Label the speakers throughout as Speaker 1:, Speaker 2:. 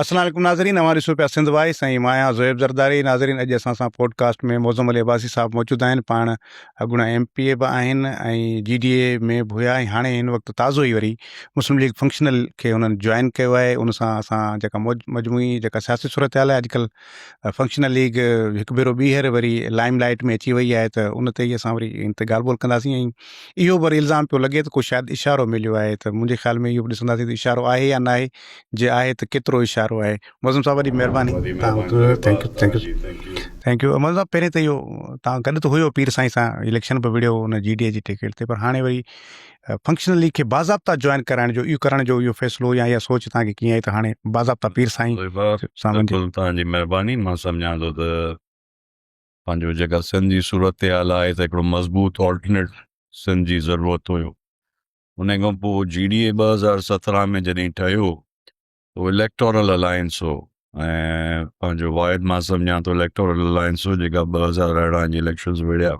Speaker 1: السلام عليڪم ناظرين اوهان ڏسو پيا سنڌ وائس ۽ مان آهيان زويب زرداري ناظرين اڄ اسان سان پوڊڪاسٽ ۾ معظم علي عباسي صاحب موجود آهن پاڻ اڳوڻا ايم پي اي به آهن ۽ جي ڊي اي ۾ به هيا ۽ هاڻي هن وقت تازو ئي وري مسلم ليگ فنڪشنل کي هنن جوائن ڪيو آهي ان سان اسان جيڪا مجموعي جيڪا سياسي صورتحال آهي اڄڪلهه فنڪشنل ليگ هڪ ڀيرو ٻيهر وري لائم لائيٽ ۾ اچي وئي آهي ته ان تي ئي اسان وري ان تي ڳالهه ٻولهه ڪنداسين ۽ اهو به وري الزام پيو لڳي ته ڪو شايد اشارو مليو آهي ته منهنجي خيال ۾ اهو به ڏسنداسين ته اشارو آهي يا ناهي جي آهي ته ڪيترو اشارو آهي معظم صاحب وڏي مهرباني ٿينڪ يو معظم صاحب پهرين ته اهو تان گڏ ته هيو پير سائين سان اليڪشن به وڙهيو ان جي ڊي اي جي ٽڪيٽ تي پر هاڻي وري فنڪشنلي کي باضابطا جوائن ڪرائڻ جو اهو ڪرڻ جو اهو فيصلو يا اها سوچ تان کي ڪيئن آئي ته هاڻي باضابطا پير سائين سان تان جي مهرباني
Speaker 2: مان سمجهان ٿو ته پنهنجو جيڪا سنڌ جي صورتحال آهي ته هڪڙو مضبوط آلٽرنيٽ سنڌ جي ضرورت هيو ان کان پوء جي ڊي اي ٻه هزار سترهن ۾ جڏهن ٺهيو اهو اليڪٽورل الائنس هو ۽ پنهنجو واحد مان سمجهان ٿو اليڪٽورل الائنس هو جيڪا ٻه هزار ارڙهن جي اليڪشنز وڙهيا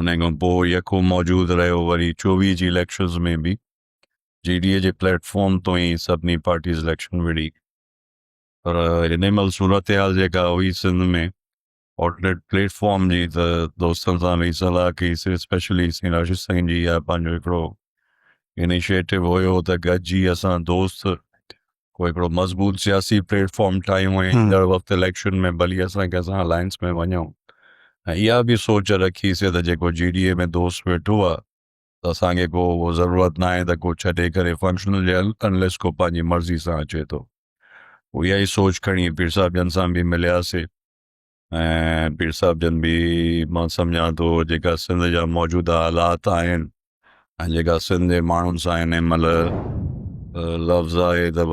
Speaker 2: ان کان پوء يڪو موجود رهيو وري چوويهه جي اليڪشنز ۾ به جي ڊي اي جي پليٽ فارم تو ئي سڀني پارٽيز اليڪشن وڙهي پر هن مهل صورتحال جيڪا هئي سنڌ ۾ آلٽرنيٽ پليٽ فارم جي ته دوستن سان به صلاح ڪئي سي اسپيشلي سائين راشد سائين جي اها پنهنجو هڪڙو انيشيٽو هيو ته گڏجي اسان دوست ڪو هڪڙو مضبوط سياسي پليٽ فارم ٺاهيون ۽ ايندڙ وقت اليڪشن ۾ ڀلي اسان ڪنهن سان الائنس ۾ وڃون ۽ اها به سوچ رکي سي ته جيڪو جي ڊي اي ۾ دوست ويٺو آهي ته اسان کي ڪو اهو ضرورت ناهي ته ڪو ڇڏي ڪري فنڪشنل جيل انليس ڪو پنهنجي مرضي سان اچي ٿو پوء اها ئي سوچ کڻي پير صاحب جن سان به ملياسي ۽ پير صاحب جن به مان سمجهان ٿو جيڪا سنڌ جا موجوده حالات آهن ۽ جيڪا سنڌ جي ماڻهن سان هن مهل لفظ آهي ته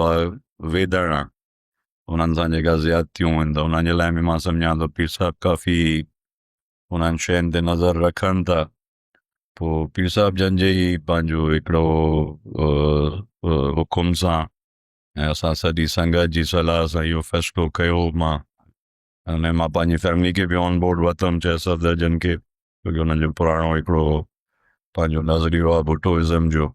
Speaker 2: ويدڻ انهن سان جيڪا زيادتيون آهن ته انهن جي لاء به مان سمجهان ٿو پير صاحب ڪافي انهن شين تي نظر رکن ٿا پوء پير صاحب جن جي ئي پنهنجو هڪڙو حڪم سان ۽ اسان سڄي سنگت جي صلاح سان اهو فيصلو ڪيو مان ان مان پنهنجي فيملي کي به آن بورڊ وتم چاهي صفدر جن کي ڇو جو انهن جو پراڻو هڪڙو پنهنجو نظريو آهي ڀٽوازم جو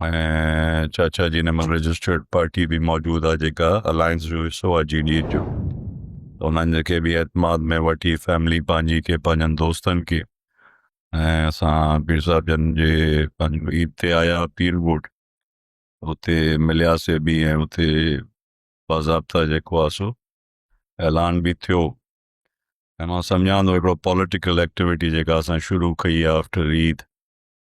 Speaker 2: ۽ چاچا جي نمن رجسٽرڊ پارٽي به موجود آ جيڪا الائنس جو حصو آ جي ڊي ايچ جو انهن کي به اعتماد ۾ وٺي فيملي پنهنجي کي پنهنجن دوستن کي ۽ اسان پير صاحب جن جي پنهنجو عيد تي آيا پير ڳوٺ اتي ملياسي به ۽ اتي باضابطا جيڪو آ سو اعلان به ٿيو ۽ مان سمجهان ٿو هڪڙو پوليٽيڪل ايڪٽيوٽي جيڪا اسان شروع ڪئي آ آفٽر عيد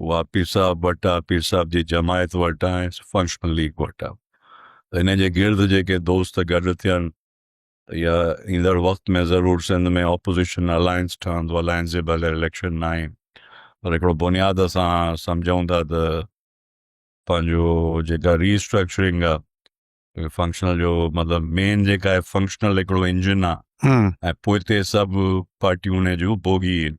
Speaker 2: اها پير صاحب وٽ آ، پير صاحب جي جماعت وٽ آ ۽ فنڪشنل ليگ وٽ آ ته انهن جي گرد جيڪي دوست گڏ ٿين ته اها ايندڙ وقت ۾ ضرور سنڌ ۾ اپوزيشن الائنس ٺهندو، الائنس جي بغير اليڪشن ناهي پر هڪڙو بنياد اسان سمجهون ٿا ته پنهنجو جيڪا ري اسٽرڪچرنگ آ فنڪشنل جو مطلب مين جيڪا آهي فنڪشنل هڪڙو انجن آ ۽ پوئتي سڀ پارٽيون ان جون بوگي آهن.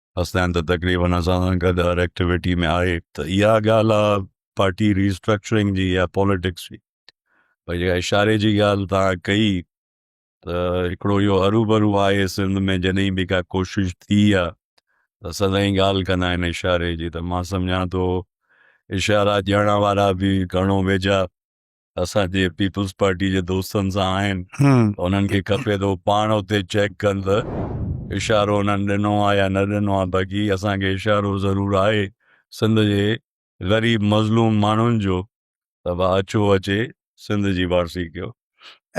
Speaker 2: حسنين ته تقريبن اسان سان گڏ هر ايڪٽيوٽي ۾ آهي ته اها ڳالهه آهي پارٽي ري اسٽرڪچرنگ جي يا پاليٽڪس جي پر جيڪا اشاري جي ڳالهه توهان ڪئي ته هڪڙو اهو هروڀرو آهي سنڌ ۾ جڏهن به ڪا ڪوشش ٿي آهي ته سدائين ڳالهه ڪندا آهن اشاري جي ته مان سمجهان ٿو اشارا ڏيڻ وارا به گهڻو ويجها اسان جي پيپلز پارٽي جي دوستن سان آهن انهن کي کپي ته هو پاڻ اتي چيڪ ڪن ته اشارو انهن ڏنو آهي يا نه ڏنو آهي باقي اسان کي اشارو ضرور آهي سنڌ جي غريب مظلوم ماڻهن جو ته ڀا اچو اچي سنڌ جي وارثي ڪيو.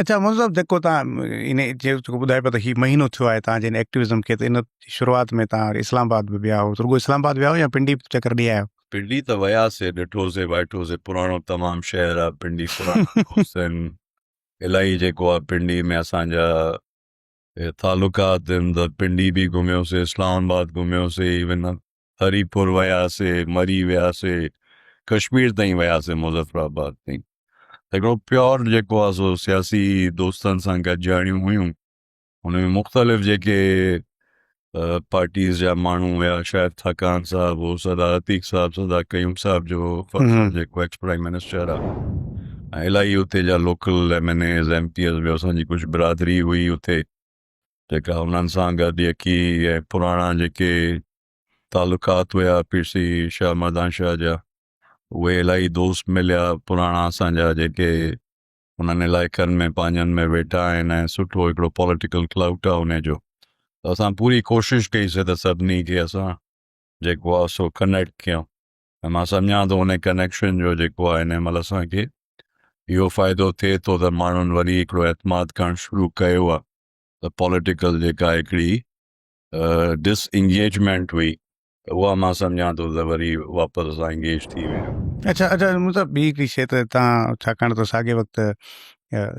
Speaker 2: اچا
Speaker 1: منظور صاحب جيڪو تان ان جيڪو ٻڌايو پيو ته هي مهينو ٿيو آهي تان جن ايڪٽيوزم کي ته ان شروعات ۾ تان اسلام آباد به ويا هو رڳو اسلام آباد ويا هو يا پنڊي به چڪر ڏي آيا آهيو. پنڊي ته وياسي
Speaker 2: ڏٺوسي وائٺوسي پراڻو تمام شهر آ پنڊي پراڻا دوست آهن الاهي جيڪو آ پنڊي ۾ اسان جا تعلقات آهن ته پنڊي به گهميوسي اسلام آباد گهميوسي ايون هري پور وياسي مري وياسي ڪشمير تائين وياسي مظفر آباد تائين هڪڙو پيور جيڪو آ سو سياسي دوستن سان گڏجاڻيون هيون ان ۾ مختلف جيڪي پارٽيز جا ماڻهو هيا شايد ٿاڪان صاحب هو سدا عتيق صاحب سدا قيوم صاحب جو جيڪو ايڪس پرائم منسٽر آ ۽ الائي اتي جا local MNAs MPAs به اسان جي ڪجهه برادري هئي اتي جيڪا انهن سان گڏ يڪي ۽ پراڻا جيڪي تعلقات هيا پير سي شاهه مردان شاهه جا اهي الائي دوست مليا پراڻا اسان جا جيڪي انهن علائقن ۾ پنهنجن ۾ ويٺا آهن ۽ سٺو هڪڙو پوليٽيڪل ڪلائوٽ آهي انهي جو ته اسان پوري ڪوشش ڪئي سي ته سڀني کي اسان جيڪو آهي سو ڪنيڪٽ ڪيون ۽ مان سمجهان ٿو انهي ڪنيڪشن جو جيڪو آهي انهي مهل اسان کي اهو فائدو ٿئي ٿو ته ماڻهن وري هڪڙو اعتماد ڪرڻ شروع ڪيو آهي ته پوليٽيڪل جيڪا هڪڙي ڊس انگيجمينٽ هئي ته اها مان سمجهان ٿو ته وري واپس اسان انگيج ٿي ويا. اچا اچا مطلب
Speaker 1: ٻي هڪڙي شيء ته تان ڇاڪاڻ ته ساڳئي وقت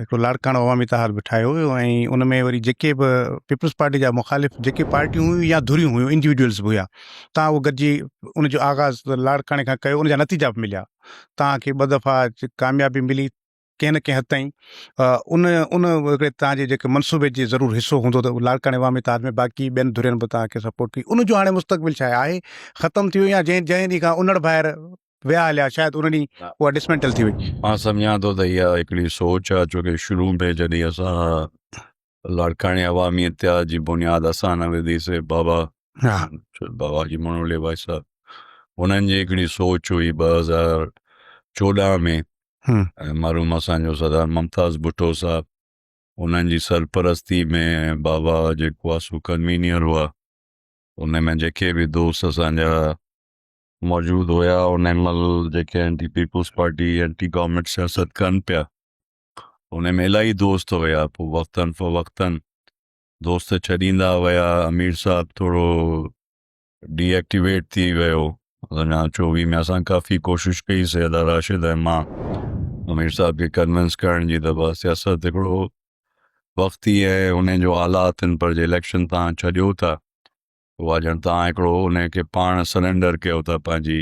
Speaker 1: هڪڙو لاڙڪاڻو عوامي اتحاد به ٺاهيو ويو ۽ ان ۾ وري جيڪي به پيپلز پارٽي جا مخالف جيڪي پارٽيون هيون يا ڌريون هيون انڊيوڊوئلز به هيا تان اهو گڏجي ان جو آغاز لاڙڪاڻي کان ڪيو ان جا نتيجا به مليا تان کي ٻه دفعا ڪاميابي ملي ڪنهن نه ڪنهن حد تائين ان ان هڪڙي تان جي جيڪي منصوبي جي ضرور حصو هوندو ته لاڙڪاڻي عوامي اتحاد ۾ باقي ٻين ڌرين به تان کي سپورٽ ڪئي ان جو هاڻي مستقبل ڇا آهي ختم ٿي ويو يا جنهن جنهن ڏينهن کان انڙ ڀائر ويا هليا شايد ان ڏينهن اها ڊسمينٽل ٿي وئي. مان سمجهان ٿو ته اها
Speaker 2: هڪڙي سوچ آهي ڇو ڪي شروع ۾ جڏهن اسان لاڙڪاڻي عوامي اتحاد جي بنياد اسان نه وڌي سي بابا بابا جي منولي بھائي صاحب انهن جي هڪڙي سوچ هئي ٻه هزار چوڏهن ۾ مرحوم اسان جو سردار ممتاز ڀٽو صاحب انهن جي سرپرستي ۾ بابا جيڪو آ سو ڪنوينئر هئا ان ۾ جيڪي به دوست اسان جا موجود هيا ان مھل جيڪي anti Peoples Party anti government سياست ڪن پيا هن ۾ الاهي دوست هيا پوء وقتاً فوقتاً دوست ڇڏيندا ويا امير صاحب ٿورو ڊي ايڪٽيويٽ ٿي ويو اڃا چوويهه ۾ اسان ڪافي ڪوشش ڪئي سيدا راشد ۽ مان امير صاحب کي ڪنوينس ڪرڻ جي ته بس سياست هڪڙو وقت ئي ۽ ان جو آلات ان پر جي اليڪشن تان ڇڏيو ٿا اها ڄڻ تان هڪڙو ان کي پاڻ سرينڊر ڪيو ٿا پنهنجي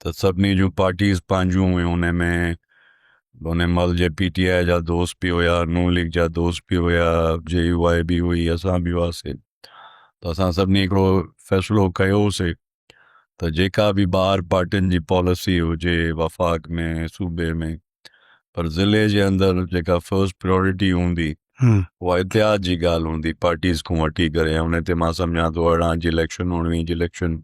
Speaker 2: ته سڀني جون پارٽيز پنهنجون هيون ان ۾ ان مل جي پي ٽي آء جا دوست به هيا نون ليگ جا دوست به هيا جي يو آء به هئي اسان به هئاسي ته اسان سڀني هڪڙو فيصلو ڪيوسي ته جيڪا به ٻاهر پارٽين جي پاليسي هجي وفاق ۾ صوبي ۾ پر ضلعي جي اندر جيڪا فرسٽ پريورٽي هوندي اها اتحاد جي ڳالهه هوندي پارٽيز کان وٺي ڪري ان تي مان سمجهان ٿو ارڙهن جي اليڪشن اڻويهه جي اليڪشن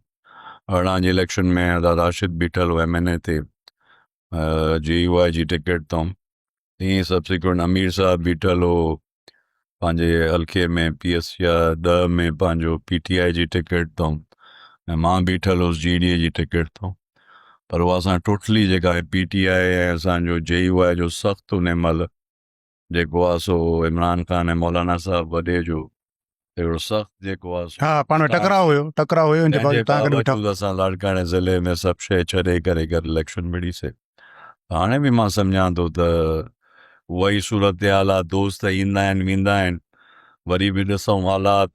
Speaker 2: اھڙان جي اليڪشن ۾ آزاد راشد بيٺل ھو ايم اين اي تي جي يو آء جي ٽڪيٽ تئون تيئن سبسيڪوئنٽ امير صاحب بيٺل ھو پنھنجي حلقي ۾ پي ايس يا ڏھه ۾ پنھنجو پي ٽي آء جي ٽڪيٽ تئون ۽ مان بيٺل ھوس جي ڊي اي جي ٽڪيٽ تئون پر اھا اسان ٽوٽلي جيڪا ھي پي ٽي آء ۽ اسان جو جي يو آء جو سخت انھي مھل جيڪو آ سو عمران خان ۽ مولانا صاحب وڏي جو اهڙو سخت جيڪو آ سو ها پاڻ ۾ ٽڪراء هيو
Speaker 1: ٽڪراء هيو انجي باوجود تان گڏ ويٺا
Speaker 2: اسان لاڙڪاڻي ضلعي ۾ سڀ شئي ڇڏي ڪري گڏ اليڪشن وڙهي سي هاڻي به مان سمجهان ٿو ته اهائي صورتحال آ دوست ايندا آهن ويندا آهن وري به ڏسئون حالات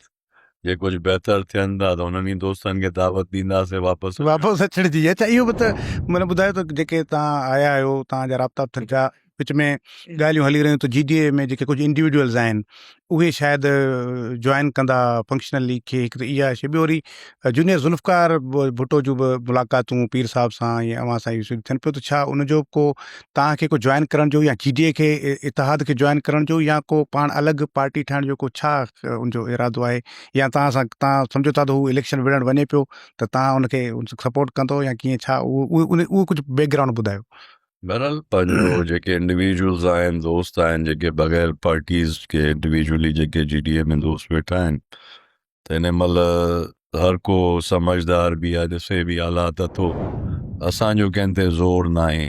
Speaker 2: جي ڪجهه بهتر ٿين ٿا ته انهن ئي دوستن کي دعوت ڏينداسين واپس واپس
Speaker 1: اچڻ جي اچا اهو به ته مطلب ٻڌايو ته جيڪي تان آيا آهيو تان جا رابطا به ٿين ٿا وچ ۾ ڳالهيون هلي رهيون ته جي ڊي اي ۾ جيڪي ڪجهه انڊيوڊيولز آهن اهي شايد جوائن ڪندا فنڪشنل ليگ کي هڪ ته اها شي ٻيو وري جونيئر ذوالفقار ڀٽو جون به ملاقاتون پير صاحب سان ۽ اوهان سان اهي ٿين پيو ته ڇا ان جو ڪو توهان کي ڪو جوائن ڪرڻ جو يا جي ڊي اي کي اتحاد کي جوائن ڪرڻ جو يا ڪو پاڻ الڳ پارٽي ٺاهڻ جو ڪو ڇا ان جو ارادو آهي يا توهان سان توهان سمجهو ٿا ته هو اليڪشن وڙهڻ وڃي پيو ته توهان ان کي سپورٽ ڪندو يا ڪيئن ڇا اهو اهو ڪجهه بيڪ گرائونڊ ٻڌايو بهرحال
Speaker 2: پنهنجو جيڪي انڊيويجولز آهن دوست آهن جيڪي بغير پارٽيز کي انڊيويجولي جيڪي جي ڊي اي ۾ دوست ويٺا آهن ته ان مھل ھر ڪو سمجھدار به يا ڏسي به حالات اٿو اسان جو ڪنھن تي زور ناھي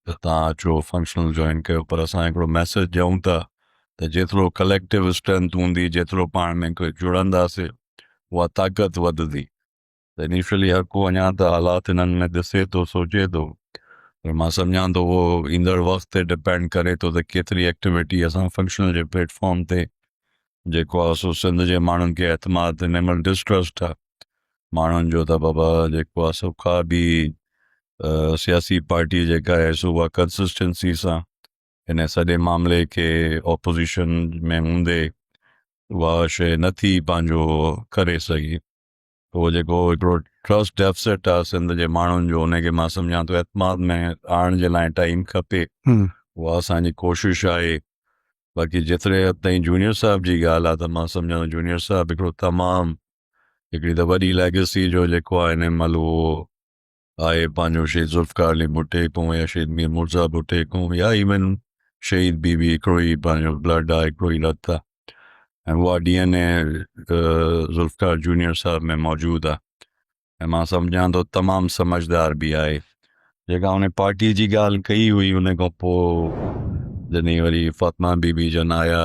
Speaker 2: ته تھان اچو فنڪشنل جوائن ڪيو پر اسان ھڪڙو ميسيج ڏيون ٿا ته جيترو ڪليڪٽو اسٽرينٿ ھوندي جيترو پاڻ ۾ جڙنداسي اھا طاقت وڌندي ته انيشلي هر ڪو اڃا ته حالات هنن ۾ ڏسي ٿو سوچي ٿو پر مان سمجهان ٿو اهو ايندڙ وقت تي ڊپينڊ ڪري ٿو ته ڪيتري ايڪٽيويٽي اسان فنڪشنل جي پليٽ فارم تي جيڪو آهي سو سنڌ جي ماڻهن کي اعتماد تي نمل ڊسٽرسٽ آهي ماڻهن جو ته بابا جيڪو آهي سو ڪا به سياسي پارٽي جيڪا آهي سو اها ڪنسسٽنسي سان هن سڄي معاملي کي اپوزيشن ۾ هوندي اها شي نٿي پنهنجو ڪري سگهي اهو جيڪو هڪڙو ٽرسٽ ڊيفسٽ آهي سنڌ جي ماڻهن جو ان کي مان سمجهان ٿو اعتماد ۾ آڻڻ جي لاء ٽائيم کپي اها اسان جي ڪوشش آهي باقي جيتري حد تائين جونيئر صاحب جي ڳالهه آهي ته مان سمجهان ٿو جونيئر صاحب هڪڙو تمام هڪڙي ته وڏي ليگسي جو جيڪو آهي ان مهل اهو آء پنهنجو شهيد ذوالفقار علي ڀٽي ڪون يا شهيد مير مرزا ڀٽي ڪون يا ايون شهيد بي بي هڪڙو ئي پنهنجو بلڊ آ هڪڙو ئي رت آ ۽ اها DNA Zulfiqar junior صاحب ۾ موجود آ ۽ مان سمجهان ٿو تمام سمجهدار به آهي جيڪا ان پارٽي جي ڳالهه ڪئي هئي ان کان پوء جڏهن وري فاطمه بي بي جن آيا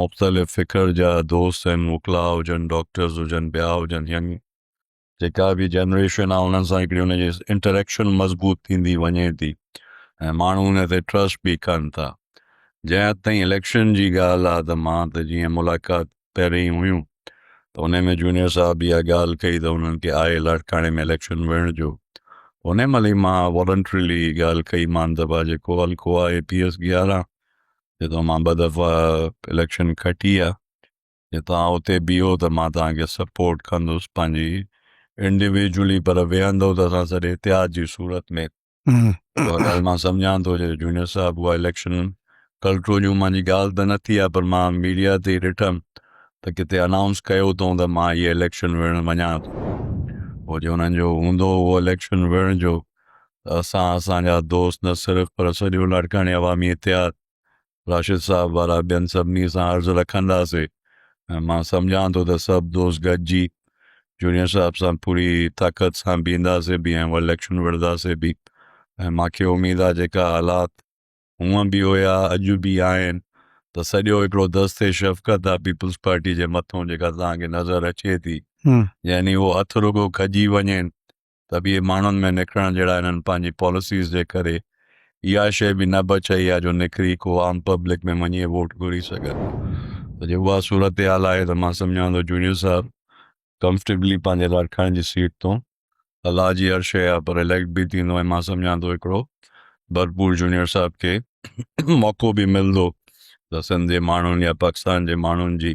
Speaker 2: مختلف فڪر جا دوست آهن وڪلا هجن ڊاڪٽرز هجن ٻيا هجن يعني جيڪا به جنريشن آ انهن سان هڪڙي ان جي انٽريڪشن مضبوط ٿيندي وڃي ٿي ۽ ماڻهو ان تي ٽرسٽ به ڪن ٿا جنهن حد تائين اليڪشن جي ڳالهه آ ته مان ته جيئن ملاقات پهرين هيون ته ان ۾ جونيئر صاحب اها ڳالهه ڪئي ته انهن کي آهي لاڙڪاڻي ۾ اليڪشن ويڙهڻ جو ان ملي مان والنٽريلي ڳالهه ڪئي مان ته ڀا جيڪو حلقو آ اي پي ايس گيارهن جو تو مان ٻه دفعا اليڪشن کٽي آ جي توهان اتي بيهو ته مان توهان کي سپورٽ ڪندس پنهنجي انڊيويجولي پر ويهندو ته اسان سڏ اتحاد جي صورت ۾ اها ڳالهه مان سمجهان ٿو جو جونيئر صاحب اها اليڪشن ڪلٽرو جون مانجي ڳالهه ته نه ٿي آ پر مان ميڊيا تي ڏٺم ته ڪٿي انائونس ڪيو اٿئون ته مان هي اليڪشن وڙهڻ وڃان ٿو پوء جي انهن جو هوندو هو اليڪشن وڙهڻ جو ته اسان اسان جا دوست نه صرف پر سڄو لاڙڪاڻي عوامي اتحاد راشد صاحب وارا ٻين سڀني سان عرض رکنداسي ۽ مان سمجهان ٿو ته سڀ دوست گڏجي جونيئر صاحب سان پوري طاقت سان بيهنداسي به ۽ اليڪشن وڙهنداسي به ۽ مان کي اميد آهي جيڪا حالات هونئن به هيا اڄ به آهن ته سڄو هڪڙو دست شفقت آهي پيپلز پارٽي جي مٿون جيڪا توهان کي نظر اچي ٿي يعني هو هٿ رڳو کڄي وڃين ته به اهي ماڻهن ۾ نڪرڻ جهڙا انهن پنهنجي پاليسيز جي ڪري اها شيء به نه بچئي آهي جو نڪري ڪو عام پبلڪ ۾ وڃي ووٽ گهري سگهن ته جي اها صورتحال آهي ته مان سمجهان ٿو جونيئر صاحب ڪمفرٽيبلي پنهنجي لاڙڪاڻي جي سيٽ تون الله جي هر شيء آهي پر اليڪٽ به ٿيندو ۽ مان سمجهان ٿو هڪڙو ڀرپور جونيئر صاحب کي موقعو به ملندو ته سنڌ جي ماڻهن يا پاڪستان جي ماڻهن جي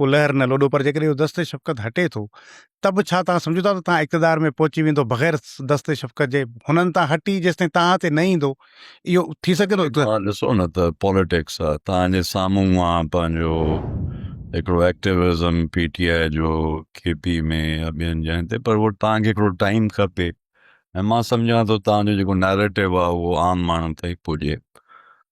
Speaker 1: ڪلهر نه لوڏو پر جيڪڏهن اهو دست شفقت هٽي ٿو ته به ڇا توهان سمجهو ٿا ته توهان اقتدار ۾ پهچي ويندو بغير دست شفقت جي هنن تان هٽي جيستائين توهان تي نه ايندو اهو ٿي سگهي ٿو اقتدار توهان ڏسو نه ته
Speaker 2: پاليٽڪس آهي توهان جي سامهون مان پنهنجو هڪڙو ايڪٽيوزم پي ٽي آء جو ڪي پي ۾ يا ٻين جاين تي پر اهو توهان کي هڪڙو ٽائيم کپي ۽ مان سمجهان ٿو توهان جو جيڪو نيريٽو آهي اهو عام ماڻهن تائين پڄي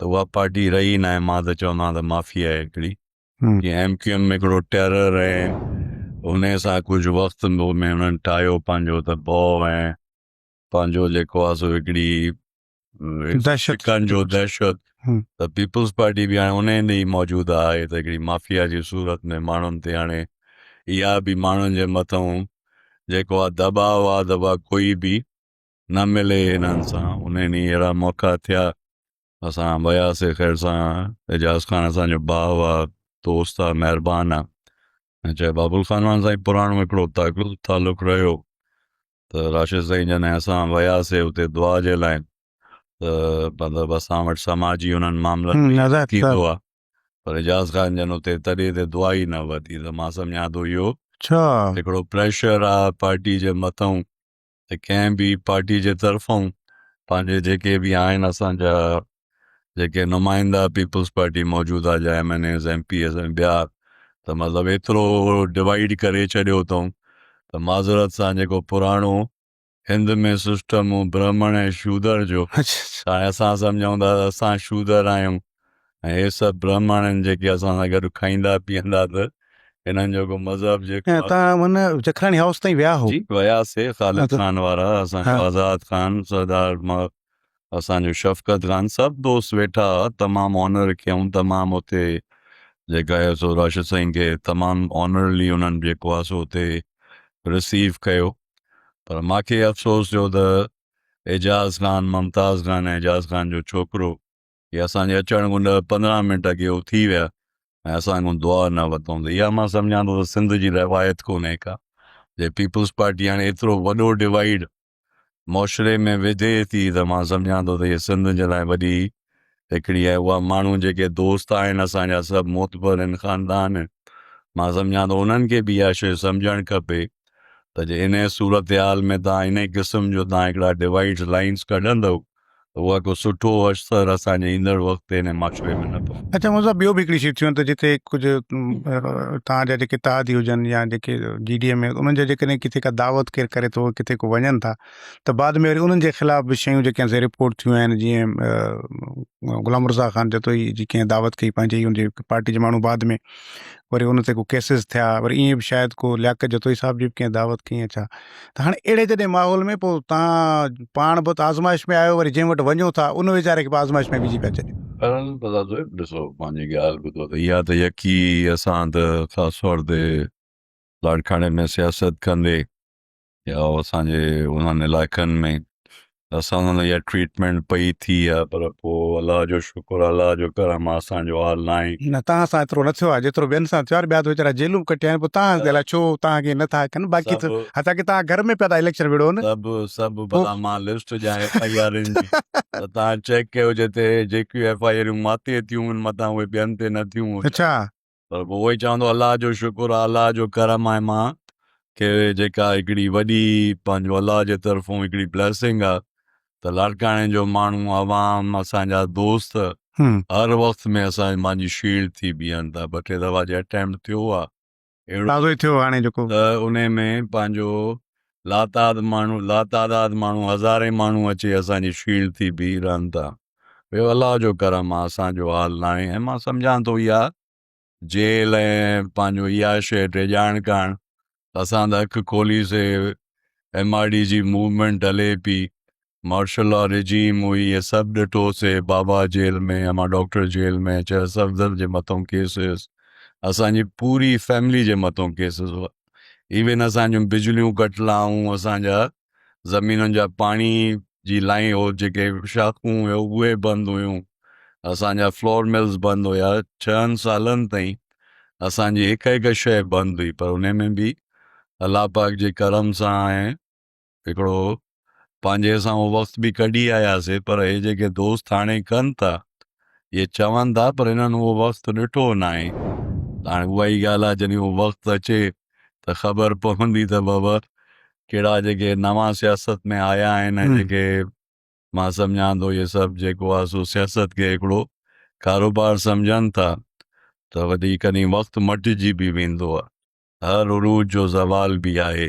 Speaker 2: ته اها پارٽي رهي ئي ناهي مان ته چوندو آهيان ته مافيا آهي هڪڙي جي ايم ڪيو
Speaker 1: ايم ۾ هڪڙو
Speaker 2: ٽيرر ۽ انهي سان ڪجهه وقت ۾ انهن ٺاهيو پنهنجو ته ڀؤ ۽ پنهنجو جيڪو آهي سو هڪڙي
Speaker 1: شڪنجو
Speaker 2: دهشت ته پيپلز
Speaker 1: پارٽي
Speaker 2: به هاڻي انهي هنڌ ئي موجود آهي ته هڪڙي مافيا جي صورت ۾ ماڻهن تي هاڻي اها به ماڻهن جي مٿئون جيڪو آهي دٻاء آهي ته اها ڪوئي به نه ملي انهن سان انهي ڏينهن اهڙا موقعا ٿيا اسان وياسي خير سان اعجاز خان اسان جو ڀاء آ دوست آ مهربان آ ۽ چاهي بابل خانواهن سان ئي پراڻو هڪڙو تعلق رهيو ته راشد سائين جڏهن اسان وياسي اتي دعا جي لاء ته مطلب اسان وٽ سماجي انهن معاملن ۾ هن عزت ٿيندو آ پر اعجاز خان جن اتي تڏي تي دعا ئي نه ورتي ته مان سمجهان ٿو اهو اڇا هڪڙو
Speaker 1: پريشر
Speaker 2: آ پارٽي جي مٿئون ته ڪنهن به پارٽي جي طرفون پنهنجي جيڪي به آهن اسانجا جيڪي نمائندا پيپلز پارٽي موجود آهي جا MNAs MPAs ۽ ٻيا ته مطلب ايترو ڊوائيڊ ڪري ڇڏيو اٿئون ته معذرت سان جيڪو پراڻو هند ۾ سسٽم برهمڻ ۽ شودر جو هاڻي اسان
Speaker 1: سمجهون ٿا
Speaker 2: اسان شودر آهيون ۽ هي سڀ برهماڻي آهن جيڪي اسان سان گڏ کائيندا پيئندا ته هنن جو ڪو مذهب جيڪو ۽ تان هن جکراڻي
Speaker 1: هائوس تائين ويا هو جي وياسي خالد
Speaker 2: اچ- خان وارا اسان جو ها. آزاد خان
Speaker 1: سردار
Speaker 2: ما- اسان جو شفقت خان سڀ دوست ويٺا هئا تمام آنر ڪيائون تمام اتي جيڪا هي سو راشد سائين کي تمام آنرلي انهن جيڪو آهي سو اتي رسيو ڪيو پر ماکي افسوس جو ته اعجاز خان ممتاز خان ۽ اعجاز خان جو ڇوڪرو ڪي اسان جي اچڻ کان ڏهه پندرهن منٽ اڳي هو ٿي ويا ۽ اسان کان دعا نه ورتائون ته اها مان سمجهان ٿو ته سنڌ جي روايت ڪونهي ڪا جي پيپلز پارٽي هاڻي ايترو وڏو ڊوائيڊ معشري ۾ وڌي ٿي ته مان سمجهان ٿو ته هي سنڌ جي لاء وڏي هڪڙي ۽ اها ماڻهو جيڪي دوست آهن اسان جا سڀ معتبر آهن خاندان آهن مان سمجهان ٿو انهن کي به اها شيء سمجهڻ کپي ته جي انهي صورتحال ۾ توهان انهي قسم جو توهان هڪڙا ڊوائيڊز لائينز ڪڍندؤ اها ڪو سٺو اشتر اسان جي ايندڙ وقت تي هن معاشري ۾ نه پئي. اچا مون صاحب ٻيو به هڪڙي
Speaker 1: شي ٿيون ته جتي ڪجهه تان جا جيڪي تادي هجن يا جيڪي جي ڊي ايم اي انهن جا جيڪڏهن ڪٿي ڪا دعوت ڪير ڪري ٿو ڪٿي ڪو وڃن ٿا ته بعد ۾ وري انهن جي خلاف به شيون جيڪي آهن سي رپورٽ ٿيون آهن جيئن غلام رضا خان جتوئي جي ڪنهن دعوت ڪئي پنهنجي ان جي پارٽي جي ماڻهو بعد ۾ وري ان تي ڪو ڪيسز ٿيا وري ائين به شايد ڪو لياقت جتوئي صاحب جي به ڪنهن دعوت ڪئي يا ڇا ته هاڻي اهڙي جڏهن ماحول ۾ پوء تان پاڻ به ته آزمائش ۾ آهيو وري جنهن وٽ وڃو ٿا ان ويچاري کي به آزمائش ۾ وجهي پيا ڇڏيو. بهرحال مزار صاحب ڏسو
Speaker 2: پنهنجي ڳالهه ٻڌو ته اها ته يقي اسان ته خاص طور تي لاڙڪاڻي ۾ سياست ڪندي يا اسان جي انهن علائقن ۾ اسان سان اها ٽريٽمينٽ پئي ٿي ها پر پوء الله جو شڪر الله جو ڪرم آ اسان جو حال ناهي. نه توهان سان ايترو نه ٿيو
Speaker 1: آهي جيترو ٻين سان ٿيو آهي ٻيا ته ويچارا جيلون به ڪٽيا آهن پوء توهان الائي ڇو توهان کي نه ٿا ڪن باقي ته حتا ڪي توهان گهر ۾ پيا ٿا اليڪشن وڙهو نه سڀ سڀ بلا مان
Speaker 2: لسٽ ڏيان ايف آئي آر ان جي ته توهان چيڪ ڪيو جتي جيڪيون ايف آئي آرون ماتي ٿيون ان متان اهي ٻين تي نه ٿيون اڇا پر پوء
Speaker 1: اهوئي
Speaker 2: چوندو الله جو شڪر آهي الله جو ڪرم آهي مان کي جيڪا هڪڙي وڏي پنهنجو الله جي طرفون هڪڙي بليسنگ آهي ته لاڙڪاڻي جو ماڻهو عوام اسان جا دوست هر وقت ۾ اسان مانجي شيلڊ ٿي بيهن ٿا ٻه ٽي دفعا جي اٽيمپٽ ٿيو آهي اهڙو
Speaker 1: ته انهي ۾
Speaker 2: پنهنجو لاتعاد ماڻهو لاتعداد ماڻهو هزارين ماڻهو اچي اسان جي شيلڊ ٿي بيهي رهن ٿا اهو الله جو ڪرم آهي اسان جو حال نه آهي ۽ مان سمجهان ٿو اها جيل ۽ پنهنجو اها شيء ڊيڄائڻ ڪرڻ اسان ته اک کولي سي ايم آر ڊي جي موومينٽ هلي پي مارشل لا ريجيم هئي هي سڀ ڏٺو سي بابا جيل ۾ امان ڊاڪٽر جيل ۾ چرس افضل جي مٿون ڪيس هيس اسان جي پوري فيملي جي مٿون ڪيس هيس ايون اسان جون بجليون ڪٽ لائون اسان جا زمينن جا پاڻي جي لائين هو جيڪي شاخون هيو اهي بند هيون اسان جا فلور ملز بند هيا ڇهن سالن تائين اسان جي هڪ هڪ شيء بند هئي پر انهي ۾ به الله پاڪ جي ڪرم سان هڪڙو پنهنجي سان اهو وقت به ڪڍي آياسي پر هي جيڪي دوست هاڻي ڪن ٿا اهي چون ٿا پر هنن اهو وقت ڏٺو ناهي ته هاڻي اها ئي ڳالهه آهي جڏهن اهو وقت اچي ته خبر پوندي ته بابا ڪهڙا جيڪي نوان سياست ۾ آيا آهن ۽ جيڪي مان سمجهان ٿو اهي سڀ جيڪو آهي سو سياست کي هڪڙو ڪاروبار سمجهن ٿا ته وڏي ڪڏهن وقت مٽجي به ويندو آهي هر عروج جو زوال به آهي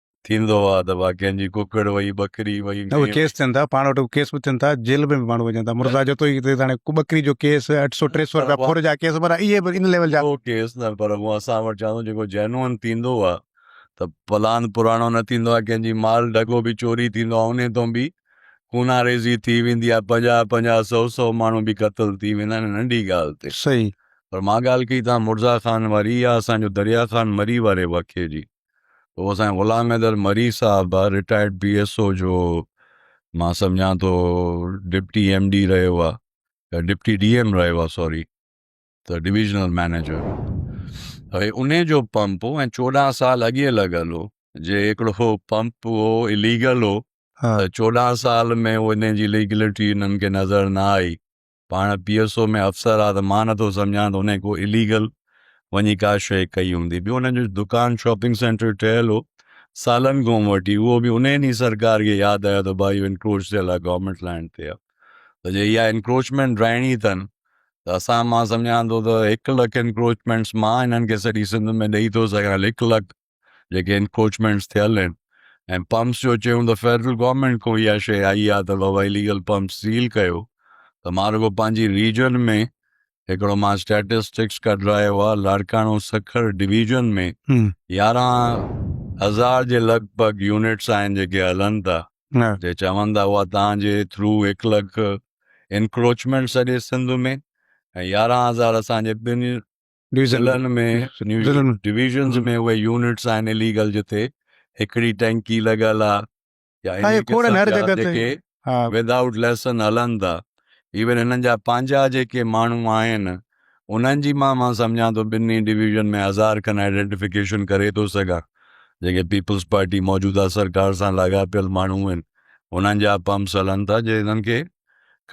Speaker 2: ٿيندو آ ته باقين جي ڪڪڙ وئي ٻڪري وئي نه اهي ڪيس ٿين ٿا پاڻ
Speaker 1: وٽ ڪيس به ٿين ٿا جيل ۾ به ماڻهو وڃن ٿا مرزا جو تو ئي ته هاڻي ٻڪري جو ڪيس اٺ سؤ ٽي سؤ رپيا پر- ڦر جا ڪيس پر اهي به ان ليول جا اهو ڪيس نه پر هو
Speaker 2: اسان وٽ چوان ٿو جيڪو جينون ٿيندو آ ته پلان پراڻو نه ٿيندو آ ڪنهن جي مال ڍڳو به چوري ٿيندو آ انهي تون به خونان ريزي ٿي ويندي آ پنجاهه پنجاهه سؤ سؤ ماڻهو به قتل ٿي ويندا آهن ننڍي ڳالهه تي صحيح پر مان
Speaker 1: ڳالهه ڪئي
Speaker 2: تان مرزا خان واري يا اسان جو دريا خان مري واري واقعي جي هو اسان جي غلام حيدر مري صاحب آ رٽائرڊ پي ايس او جو مان سمجهان ٿو ڊپٽي ايم ڊي رهيو آ ڊپٽي ڊي ايم رهيو آ سوري ته ڊويزنل مئنيجر هي ان جو پمپ هو ۽ چوڏهن سال اڳي لڳل هو جي هڪڙو پمپ هو اليگل هو چوڏهن سال ۾ ان جي ليگلٽي انهن کي نظر نه آئي پاڻ پي ايس او ۾ افسر آ ته مان نٿو سمجهان ته انهن ڪو اليگل وڃي ڪا شيء ڪئي هوندي ٻيو انهن جو دڪان شاپنگ سينٽر ٺهيل هو سالن کان وٺي اهو به انهن ئي سرڪار کي ياد آيو ته ڀاء اهو انڪروچ ٿيل آ گورنمينٽ لينڊ تي آ ته جي اها انڪروچمينٽ رهڻي اٿن ته اسان مان سمجهان ٿو ته هڪ لک انڪروچمينٽس مان هنن کي سڄي سنڌ ۾ ڏئي ٿو سگهان هڪ لک جيڪي انڪوچمينٽس ٿيل آهن ۽ پمپس جو چيون ته فيڊرل گورنمينٽ کان اها شيء آئي آهي ته بابا اليگل پمپس سيل ڪيو ته مان رڳو پنهنجي ريجن ۾ هڪڙو مان اسٽيٽسٽڪس ڪڍرايو آهي لاڙڪاڻو سکر ڊويزن ۾ يارهن هزار جي لڳ ڀڳ يونٽس آهن جيڪي هلن ٿا جي چون ٿا اها توهان جي ٿرو هڪ لک انڪروچمينٽ سڄي سنڌ ۾ ۽ يارهن هزار اسان جي ٻن ضلعن ۾ ڊويزنز ۾ اهي يونٽس آهن اليگل جتي هڪڙي ٽينڪي لڳل آهي ود آئوٽ ليسن هلن ٿا ايون هنن جا پنهنجا جيڪي ماڻهو آهن انهن جي مان مان سمجهان ٿو ٻنهي ڊويزن ۾ هزار کن آئيڊينٽيفڪيشن ڪري ٿو سگهان جيڪي پيپلز پارٽي موجوده سرڪار سان لاڳاپيل ماڻهو آهن انهن جا پمپس هلن ٿا جي هنن کي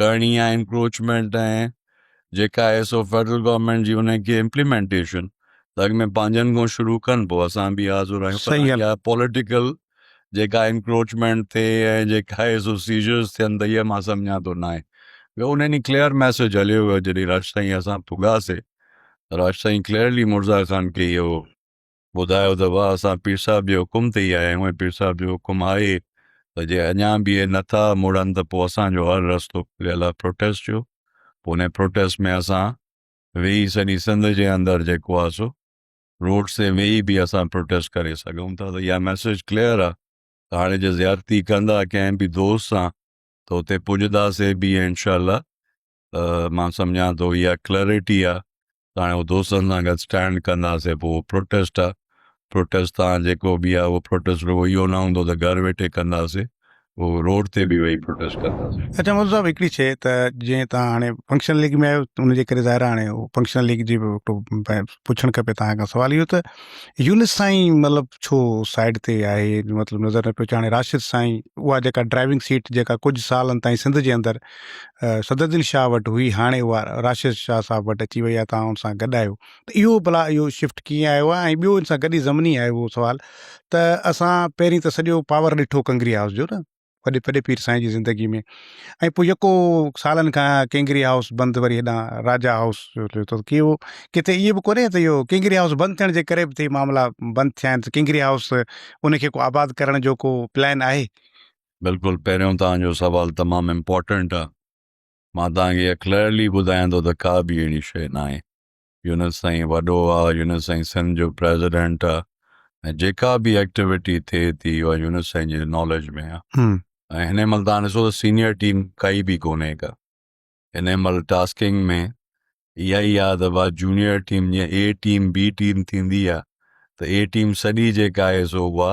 Speaker 2: ڪرڻي آهي انڪروچمينٽ ۽ جيڪا ISO federal government جي انهن کي امپليمينٽيشن ته اڳ ۾ پنهنجن کان شروع ڪن پوء اسان به حاضر آهيون پر اها پوليٽيڪل جيڪا انڪروچمينٽ ٿي ۽ جيڪا آء ايس او سيجرز ٿين ته اها مان سمجهان ٿو ناهي ٻيو ان ڏينهن ڪليئر ميسج هليو ويو جڏهن راجسائين اسان پڳاسي راجسائين ڪليئرلي مرزا خان کي اهو ٻڌايو ته واهه اسان پير صاحب جي حڪم تي ئي آيا آهيون ۽ پير صاحب جو حڪم آهي ته جي اڃا به اهي نه ٿا مڙن ته پوء اسان جو هر رستو کليل آهي پروٽيسٽ جو پوء انهي پروٽيسٽ ۾ اسان ويهي سڄي سنڌ جي اندر جيڪو آهي سو روڊس تي ويهي به اسان پروٽيسٽ ڪري سگهون ٿا ته اها ميسيج ڪليئر آهي ته هاڻي جي زيادتي ڪندا ڪنهن به دوست سان ته اتي پڄداسي به ۽ انشاء الله ته مان سمجهان ٿو اها ڪليئرٽي آهي ته هاڻي هو دوستن سان گڏ اسٽينڊ ڪنداسين پوء اهو پروٽيسٽ آهي پروٽيسٽ تان جيڪو به آهي اهو پروٽيسٽ رڳو اهو نه هوندو ته گهر ويٺي ڪنداسين اهو روڊ تي به ويهي پروٽيسٽ ڪنداسين. اچا مودو صاحب هڪڙي شيء
Speaker 1: ته جيئن تهان هاڻي فنڪشنل ليگ ۾ آهيو ان جي ڪري ظاهر آهي هاڻي فنڪشنل ليگ جي به پڇڻ کپي تهان کان سوال اهو ته يونس سائين مطلب ڇو سائيڊ تي آهي مطلب نظر نه پيو اچي هاڻي راشد سائين اها جيڪا ڊرائيونگ سيٽ جيڪا ڪجهه سالن تائين سنڌ جي اندر صدرالدين شاهه وٽ هئي هاڻي اها راشد شاهه صاحب وٽ اچي وئي آهي توهان ان سان گڏ آهيو ته اهو ڀلا اهو شفٽ ڪيئن آيو آهي ۽ ٻيو ان سان گڏي ضمني آهي اهو سوال ته اسان پهرين ته سڄو پاور ڏٺو ڪنگري هائوس جو نه وڏي پڏي پير سائين جي زندگي ۾ ۽ پوء يڪو سالن کان ڪنگري هائوس بند وري هيڏانهن راجا هائوس جو ته ڪي اهو ڪٿي ائين به ڪونهي ته اهو ڪنگري هائوس بند ٿيڻ جي ڪري به ته معاملا بند ٿيا آهن ته ڪنگري هائوس ان کي ڪو آباد ڪرڻ جو ڪو پلان آهي بلڪل
Speaker 2: پهريون توهان جو سوال تمام امپورٽنٽ آ مان توهان کي ڪليئرلي ٻڌايان ٿو ته ڪا به اهڙي شيء نه آهي يونس سائين وڏو آ يونس سائين سنڌ جو پريزيڊنٽ آ ۽ جيڪا به ايڪٽيوٽي ٿئي ٿي اها يونس سائين جي ناليج ۾ آ ۽ هن مهل توهان ڏسو ته سينيئر ٽيم ڪائي به ڪونهي ڪا هن مهل ٽاسڪنگ ۾ اها ئي آ ته وا جونيئر ٽيم جيئن اي ٽيم بي ٽيم ٿيندي آ ته اي ٽيم سڄي جيڪا آهي سو اها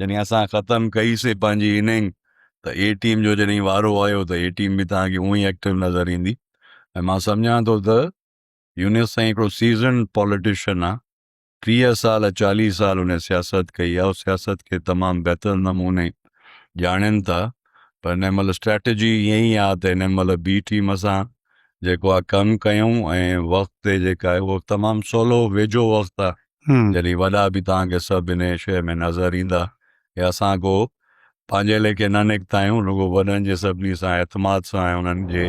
Speaker 2: جڏهن اسان ختم ڪئي سي پنهنجي اننگ ته اي ٽيم جو جڏهن وارو آيو ته اي ٽيم به توهان کي اونهي ايڪٽو نظر ايندي ۽ مان سمجهان ٿو ته يونس سائين هڪڙو سيزنڊ پوليٽيشن آ ٽيهه سال چاليهه سال هن سياست ڪئي آ سياست کي تمام بهتر نموني ڄاڻين ٿا پر هن مهل اسٽريٽجي ائين ئي آ ته هن مهل بي ٽيم سان جيڪو آ ڪم ڪيون ۽ وقت تي جيڪا آهي هو تمام سولو ويجهو وقت آ جڏهن وڏا به توهان کي سڀ انهيء شيء ۾ نظر ايندا ته اسان ڪو پنهنجي ليکي نه نڪتا آهيون، رڳو وڏن جي سڀني سان اعتماد سان ۽ انهن جي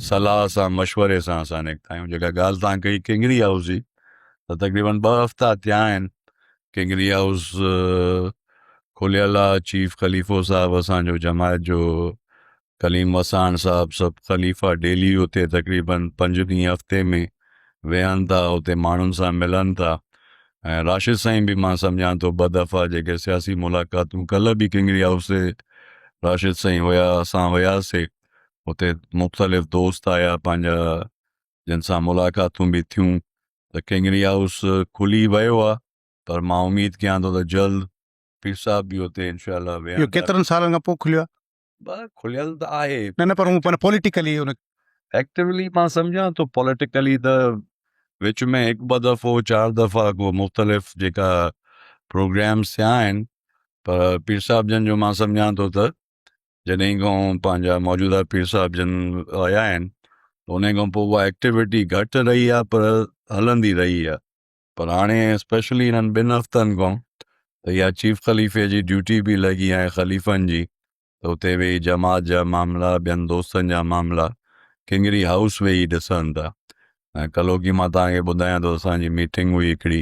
Speaker 2: صلاح سان مشوري سان اسان نڪتا آهيون. جيڪا ڳالهه توهان ڪئي ڪنگري هائوس جي ته تقريبن ٻه هفتا ٿيا آهن ڪنگري هائوس کليل آهي، چيف خليفو صاحب اسان جو جماعت جو ڪليم وساڻ صاحب سڀ خليفا ڊيلي اتي تقريبن پنج ڏينهن هفتي ۾ ويهن ٿا اتي ماڻهن سان ملن ٿا ۽ راشد سائين به مان سمجهان ٿو ٻه دفعا جيڪي سياسي ملاقاتون ڪلهه به ڪنگري هائوس تي راشد سائين هيا اسان هياسي اتي مختلف دوست آيا پنهنجا جن سان ملاقاتون به ٿيون ته ڪنگري هائوس کلي ويو آ پر مان اميد ڪيان ٿو ته جلد پير صاحب به اتي انشاء الله ويهندا. اهو ڪيترن سالن
Speaker 1: کان پوء
Speaker 2: کليو
Speaker 1: آهي؟ کليل ته آهي
Speaker 2: نه نه پر هو پر
Speaker 1: پوليٽيڪلي ان ايڪٽيولي مان
Speaker 2: سمجهان ٿو پوليٽيڪلي ته وچ ۾ هڪ ٻه دفعو چار دفعا ڪو مختلف جيڪا پروگرامس ٿيا آهن پر پير صاحب جن جو مان سمجهان ٿو ته جڏهن کان پنهنجا موجوده پير صاحب جن آيا آهن ان کان پوء اها ايڪٽيويٽي گهٽ رهي آهي پر هلندي رهي آهي پر هاڻي اسپيشلي هنن ٻن هفتن کان ته اها چيف خليفي جي ڊيوٽي به لڳي آهي خليفن جي ته اتي ويهي جماعت جا معاملا ٻين دوستن جا معاملا ڪنگري هائوس ويهي ڏسن ٿا ۽ ڪلهوڪي مان توهان کي ٻڌايان ٿو اسان جي ميٽنگ هئي هڪڙي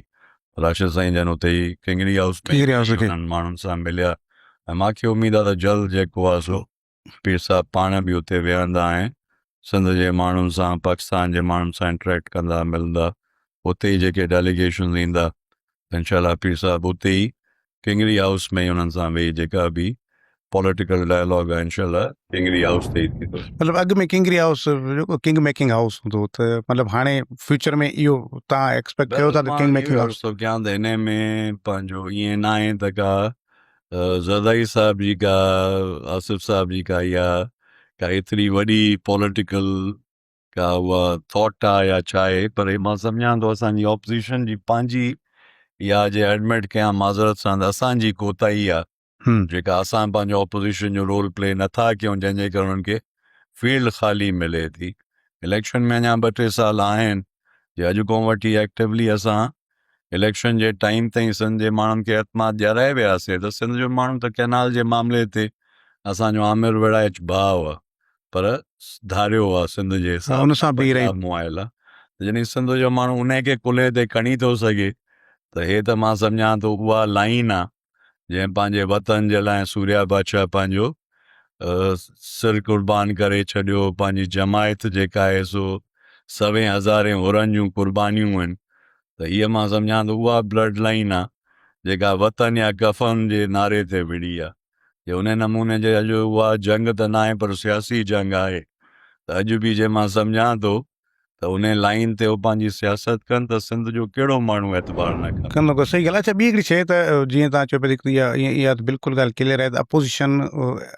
Speaker 2: راشد سائين جن اتي ئي ڪنگري هائوس ۾ هنن ماڻهن سان مليا ۽ ماکي اميد آهي ته جلد جيڪو آهي سو پير صاحب پاڻ به اتي ويهندا ۽ سنڌ جي ماڻهن سان پاڪستان جي ماڻهن سان انٽريڪٽ ڪندا ملندا اتي ئي جيڪي ڊيليگيشنز ايندا ته انشاء الله پير صاحب اتي ئي ڪنگري هائوس ۾ ئي انهن سان ويهي جيڪا به پوليٽيڪل ڊائلاگ آهي انشاء الله ڪنگري هائوس تي ئي ٿيندو. مطلب اڳ ۾ ڪنگري
Speaker 1: هائوس جيڪو ڪنگ ميڪنگ هائوس هوندو ته مطلب هاڻي فيوچر ۾ اهو تان ايڪسپيڪٽ ڪيو ٿا ته ڪنگ ميڪنگ هائوس ته ڪيان ته انهي ۾
Speaker 2: پنهنجو ائين ناهي ته ڪا زرداري صاحب جي ڪا آصف صاحب جي ڪا اها ڪا ايتري وڏي پوليٽيڪل ڪا اها ٿاٽ آهي يا ڇا آهي پر هي مان سمجهان ٿو اسانجي اپوزيشن جي پنهنجي اها جي ايڊمٽ ڪيان معذرت سان ته اسانجي ڪوتاهي آهي جيڪا اسان پنهنجو اپوزيشن جو رول پلي نٿا ڪيون جنهن جي ڪري انهن کي فيلڊ خالي ملي ٿي اليڪشن ۾ اڃا ٻه ٽي سال آهن جي اڄ کان وٺي ايڪٽويلي اسان اليڪشن جي ٽائيم تائين سنڌ جي ماڻهن کي اعتماد ڏيارائي وياسي ته سنڌ جو ماڻهو ته ڪئنال جي معاملي تي اسان جو آمر ويڙهائچ ڀاء هئا پر ڌاريو هئا سنڌ جي حساب سان پنجاب
Speaker 1: مائل آ ته
Speaker 2: جڏهن سنڌ جو ماڻهو انهي کي ڪلهي تي کڻي ٿو سگهي ته هي ته مان سمجهان ٿو اها لائين آ جنهن پنهنجي وطن جي لاء سوريا بادشاهه پنهنجو سر قربان ڪري ڇڏيو پنهنجي جماعت جيڪا آهي سو سوين هزارين حرن جون قربانيون آهن ته هيء مان سمجهان ته اها بلڊ لائين آهي جيڪا وطن يا ڪفن جي نعري تي وڙهي آهي جي انهي نموني جي اڄ اها جنگ ته ناهي پر سياسي جنگ آهي ته اڄ به جي مان سمجهان ٿو ته انهي لائين تي هو پنهنجي سياست ڪن ته سنڌ جو ڪهڙو ماڻهو اعتبار نه ڪن. ڪندو ڪندو صحيح ڳالهه اڇا ٻي
Speaker 1: هڪڙي شيء ته جيئن تهان چيو پيا ته هڪڙي اها ته بلڪل ڳالهه ڪليئر آهي ته اپوزيشن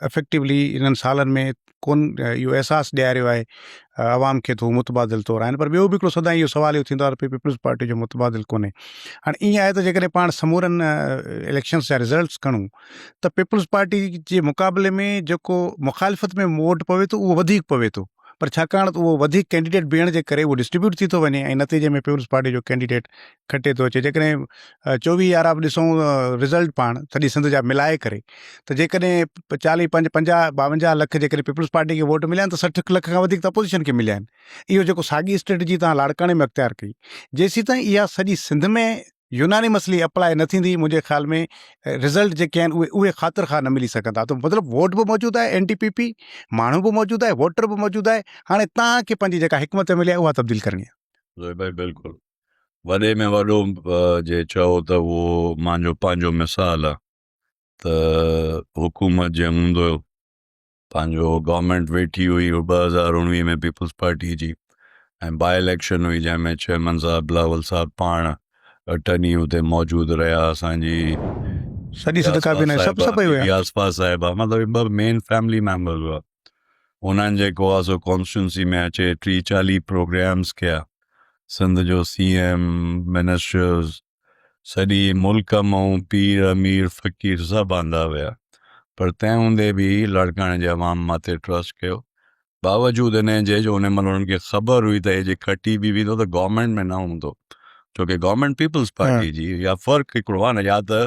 Speaker 1: افيڪٽولي انهن سالن ۾ ڪون اهو احساس ڏياريو آهي عوام کي ته هو متبادل طور آهن پر ٻيو به هڪڙو سدائين اهو سوال اهو ٿيندو آهي ته پيپلز پارٽي جو متبادل ڪونهي هاڻي ائين آهي ته جيڪڏهن پاڻ سمورن اليڪشنز جا رزلٽس کڻون ته پيپلز پارٽي جي مقابلي ۾ جيڪو مخالفت ۾ ووٽ پوي ٿو اهو وڌيڪ پوي ٿو پر ڇاڪاڻ ته اهو وڌيڪ ڪينڊيڊيٽ بيهڻ جي ڪري اهو ڊسٽريبيوٽ ٿي ٿو وڃي ۽ نتيجي ۾ پيپلز پارٽي جو ڪينڊيڊيٽ کٽي ٿو اچي جيڪڏهن چوويهه يارا به ڏسون رزلٽ پاڻ سڄي سنڌ جا ملائي ڪري ته جيڪڏهن چاليهه پنج پنجاهه ٻاونجاهه لک جيڪڏهن پيپلز پارٽي کي ووٽ مليا ته سٺ لک کان وڌيڪ ته اپوزيشن کي مليا آهن اهو جيڪو ساڳي اسٽريٽجي تان لاڙڪاڻي ۾ اختيار ڪئي جيسيتائين اها سڄي سنڌ ۾ يونانيمس لي اپلائي نه ٿيندي منهنجي خيال ۾ رزلٽ جيڪي آهن اهي اهي خاطر خواه نه ملي سگهندا ته مطلب ووٽ به موجود آهي اين ڊي پي پي ماڻهو به موجود آهي ووٽر به موجود آهي هاڻي تهان کي پنهنجي جيڪا حڪمت عملي آهي اها تبديل ڪرڻي آهي زوئي ڀائي بلڪل
Speaker 2: وڏي ۾ وڏو جي چئو ته اهو مانجو پنهنجو مثال آهي ته حڪومت جنهن هوندو پنهنجو گورنمينٽ ويٺي هئي ٻه هزار اڻويهه ۾ پيپلز پارٽي جي ۽ با اليڪشن هئي جنهن ۾ چيئرمين صاحب بلاول صاحب پاڻ اٽرني اتي موجود رهيا اسانجي سڄي
Speaker 1: سڌ ڪابينا سڀ سڀ پئي ويا ياسفا صاحب
Speaker 2: مطلب ٻه مين فيملي ميمبر هئا انهن جيڪو آ سو ڪانسٽيٽنسي ۾ اچي ٽي چاليهه پروگرامز ڪيا سنڌ جو سي ايم منسٽرز سڄي ملڪ مئون پير امير فقير سڀ آندا ويا پر تنهن هوندي به لاڙڪاڻي جي عوام مان تي ٽرسٽ ڪيو باوجود انهن جي جو ان مهل انهن کي خبر هئي ته هي جي کٽي به ويندو ته گورنمينٽ ۾ نه هوندو ڇو ڪي گورنمينٽ پيپلز پارٽي جي يا فرق هڪڙو آهي نه يا ته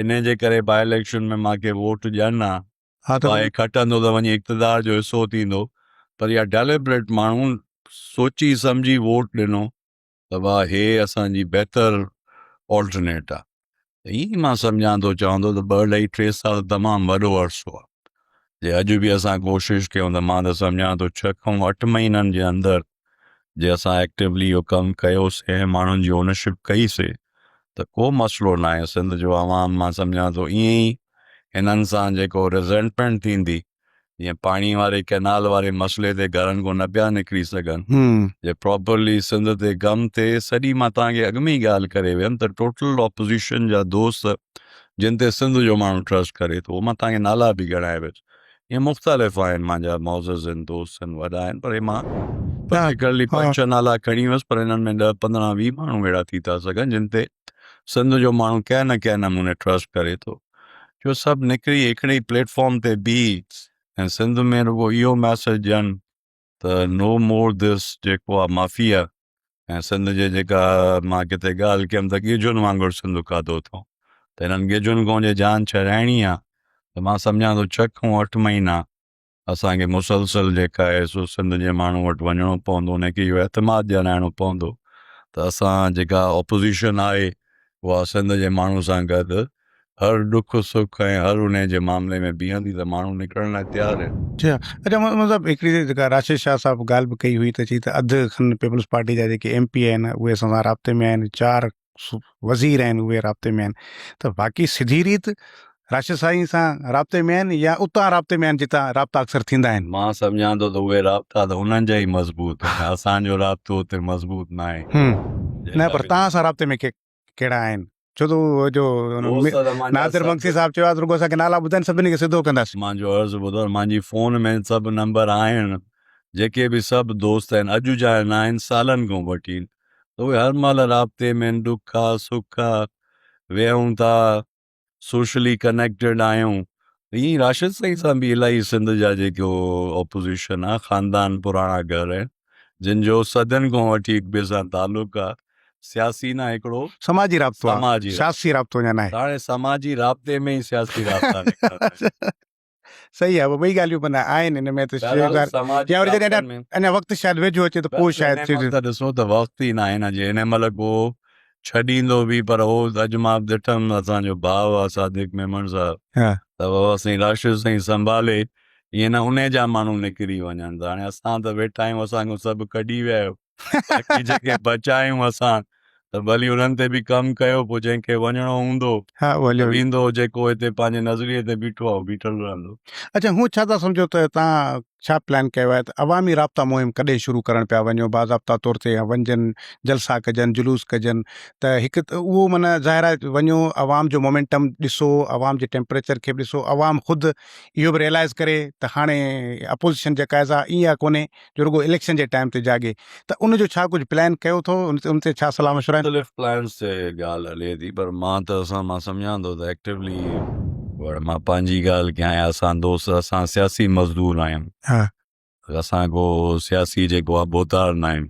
Speaker 2: انهن جي ڪري با اليڪشن ۾ مان کي ووٽ ڏين ها ها ته هي کٽندو ته وڃي اقتدار جو حصو ٿيندو پر يا ڊيليبريٽ ماڻهو سوچي سمجهي ووٽ ڏنو ته واء هي اسان جي بهتر آلٽرنيٽ آ ته ائين مان سمجهان ٿو چوان ٿو ته ٻه اڍائي ٽي سال تمام وڏو عرصو آ جي اڄ به اسان ڪوشش ڪيون ته مان ته سمجهان ٿو ڇهه کان اٺ مهينن جي اندر جي اسان ايڪٽيولي اهو ڪم ڪيوسي ۽ ماڻهن جي اونرشپ ڪئي سي ته ڪو مسئلو ناهي سنڌ جو عوام مان سمجهان ٿو ائين ئي هنن سان جيڪو ريزينٽمينٽ ٿيندي جيئن پاڻي واري ڪئنال واري مسئلي تي گهرن کان نه پيا نڪري سگهن جي پراپرلي سنڌ تي گم تي سڄي مان توهان کي اڳ ۾ ئي ڳالهه ڪري ويم ته ٽوٽل اپوزيشن جا دوست جن تي سنڌ جو ماڻهو ٽرسٽ ڪري ٿو مان توهان کي نالا به ڳڻائي ويس ائين مختلف آهن مانجا معزز ان دوست ان وڏا آهن پر هي مان پرٽيڪولرلي پنج ڇهه نالا کڻي ويس پر انهن ۾ ڏهه پندرهن ويهه ماڻهو اهڙا ٿي ٿا سگهن جن تي سنڌ جو ماڻهو ڪنهن نه ڪنهن نموني ٽرسٽ ڪري ٿو جو سڀ نڪري هڪڙي ئي پليٽ فارم تي بيهي ۽ سنڌ ۾ رڳو اهو ميسيج ڏين ته نو مور ڌس جيڪو آ مافيا ۽ سنڌ جي جيڪا مان ڪٿي ڳالهه ڪيم ته ڳجهن وانگر سنڌ کاڌو اٿئون ته هنن ڳجهن کان جي جان ڇڏائڻي آ ته مان سمجهان ٿو ڇهه کان اٺ مهينا اسان کي مسلسل جيڪا ايس او سنڌ جي ماڻهن وٽ وڃڻو پوندو انهن کي اهو اعتماد ڏيارائڻو پوندو ته اسان جيڪا اپوزيشن آهي اها سنڌ جي ماڻهن سان گڏ هر ڏک سک ۽ هر انهي جي معاملي ۾ بيهندي ته ماڻهو نڪرڻ لاء تيار آهن. جي ها اچا مومن صاحب
Speaker 1: هڪڙي جيڪا راشد شاهه صاحب ڳالهه به ڪئي هئي ته چي ته اڌ کن پيپلز پارٽي جا جيڪي ايم پي آهن اهي اسان سان رابطي ۾ آهن چار وزير آهن اهي رابطي ۾ آهن ته باقي سڌي ريت راشد سائين سان رابطي ۾ آهن يا اتان رابطي ۾ آهن جتان رابطا اڪثر ٿيندا آهن مان سمجهان ٿو ته اهي
Speaker 2: رابطا ته انهن جا ئي مضبوط آهن اسان جو رابطو اتي مضبوط نه آهي نه پر
Speaker 1: توهان سان رابطي ۾ ڪهڙا آهن ڇو ته اهو جو ناصر مگسي صاحب چيو آهي ته رڳو اسانکي نالا ٻڌائين سڀني کي سڌو ڪنداسين مان جو عرض ٻڌو
Speaker 2: مانجي فون ۾ سڀ نمبر آهن جيڪي به سڀ دوست آهن اڄ جا نه آهن سالن کان وٺي ته اهي هر مهل رابطي ۾، ڏک آ، سک آ، ويهون ٿا، سوشلي ڪنيڪٽيڊ آهيون. ائين ئي راشد سائين سان به الائي سنڌ جا جيڪو اپوزيشن آ، خاندان پراڻا گهر آهن، جن جو صدين کان وٺي هڪ ٻئي سان تعلق آ، سياسي نه هڪڙو سماجي رابطو آ،
Speaker 1: سياسي رابطو اڃا ناهي. هاڻي سماجي رابطي
Speaker 2: ۾ ئي سياسي رابطا نڪرندا آهن. صحيح
Speaker 1: آهي ٻئي ڳالهيون معنيٰ آهن ان ۾ ته يا وري جڏهن اڃا وقت شايد ويجهو اچي ته پوء شايد ته ڏسو ته وقت ئي
Speaker 2: ناهي نه جي هن مهل ڪو ڇڏيندو به پر هو اڄ مان ڏٺم اسان جو ڀاء آهي صادق ميمڻ صاحب ته بابا سائين راشد سائين سنڀالي ائين نه ان جا ماڻهو نڪري وڃن ته هاڻي اسان ته ويٺا آهيون اسان کان سڀ ڪڍي ويا آهيو باقي جيڪي بچا آهيون اسان ته ڀلي انهن تي به ڪم ڪيو پوء جنهن کي وڃڻو هوندو ويندو جيڪو هتي پنهنجي نظريي تي بيٺو آهي بيٺل رهندو. اڇا هون ڇا ٿا
Speaker 1: سمجهو ته تان ڇا پلان ڪيو آهي ته عوامي رابطا مهم ڪڏهن شروع ڪرڻ پيا وڃو باضابطا طور تي وڃجن جلسا ڪجن جلوس ڪجن ته هڪ اهو معنيٰ ظاهر آهي وڃو عوام جو مومينٽم ڏسو عوام جي ٽيمپريچر کي به ڏسو عوام خود اهو به ريلائز ڪري ته هاڻي اپوزيشن جا قاعضا ايئن ڪونهي جو رڳو اليڪشن جي ٽائيم تي جاڳي ته ان جو ڇا ڪجهه پلان ڪيو اٿو ان تي ڇا صلاح مشورا آهن؟ مختلف پلانس تي
Speaker 2: ڳالهه هلي ٿي پر مان ته اسان مان سمجهان ٿو ته ايڪٽيولي وڙ مان پنهنجي ڳالهه ڪيان يا اسان دوست اسان سياسي مزدور آهيون اسان ڪو سياسي جيڪو آهي ڀوتار ناهيون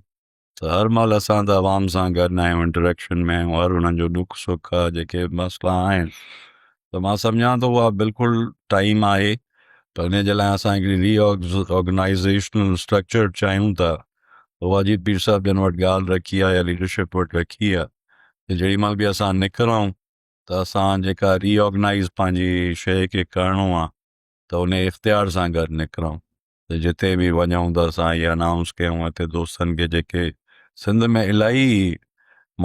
Speaker 2: ته هر مهل اسان ته عوام سان گڏ آهيون انٽريڪشن ۾ آهيون هر انهن جو ڏک سک جيڪي مسئلا آهن ته مان سمجهان ٿو اها بلڪل ٽائيم آهي ته ان جي لاء اسان هڪڙي ري آرگنائيزيشنل اسٽرڪچر چاهيون ٿا واجد پير صاحب جن وٽ ڳالهه رکي آهي يا ليڊرشپ وٽ رکي آهي ته جهڙي مهل به اسان نڪرون ته اسان جيڪا ري آرگنائيز پنهنجي شيء کي ڪرڻو آهي ته ان اختيار سان گڏ نڪرون ته جتي به وڃون ته اسان اهي انائونس ڪيون هتي دوستن کي جيڪي سنڌ ۾ الاهي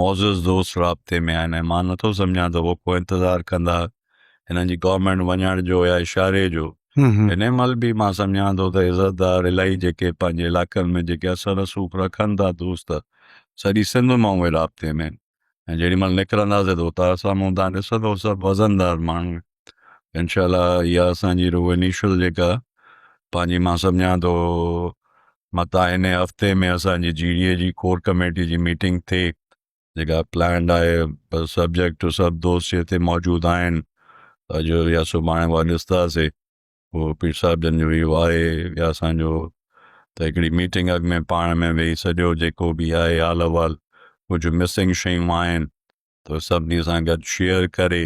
Speaker 2: معزز دوست رابطي ۾ آهن ۽ مان نٿو سمجهان ته هو ڪو انتظار ڪندا هنن جي گورنمينٽ وڃڻ جو يا اشاري جو هن مهل به مان سمجهان ٿو ته عزتدار الاهي جيڪي پنهنجي علائقن ۾ جيڪي اثر رسوخ رکن ٿا دوست سڄي سنڌ مان اهي رابطي ۾ ۽ جيڏي مھل نڪرنداسين ته اتان سامھون تھان ڏسندو سڀ وزندار ماڻھو انشاء الله اھا اسان جي روح انيشل جيڪا پنھنجي مان سمجھان ٿو متان ھن ھفتي ۾ اسان جي جي ڊي اي جي ڪور ڪميٽي جي ميٽنگ ٿئي جيڪا پلانڊ آھي سبجيڪٽ سڀ دوست ھتي موجود آھن اڄ يا سڀاڻي اھا ڏسنداسين. هو پير صاحب جن جو اهو آهي يا اسانجو ته هڪڙي ميٽنگ اڳ ۾ پاڻ ۾ ويهي سڄو جيڪو به آهي حال احوال ڪجهه مسنگ شيون آهن ته سڀني سان گڏ شيئر ڪري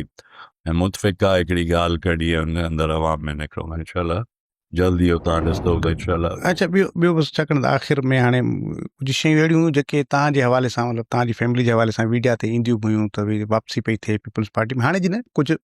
Speaker 2: ۽ متفقا هڪڙي ڳالهه ڪڍي ان اندر عوام ۾ نڪرو انشاء الله جلدي اهو تان ڏسندو ته انشاء الله اچھا ٻيو ٻيو بس
Speaker 1: ڇا ڪرڻ آخر ۾ هاڻي ڪجهه شيون اهڙيون هيون جيڪي تان جي حوالي سان مطلب تان جي فيملي جي حوالي سان ويڊيا تي اينديون به هيون ته واپسي پئي ٿئي پيپلز پارٽي ۾ هاڻي جي نه ڪجهه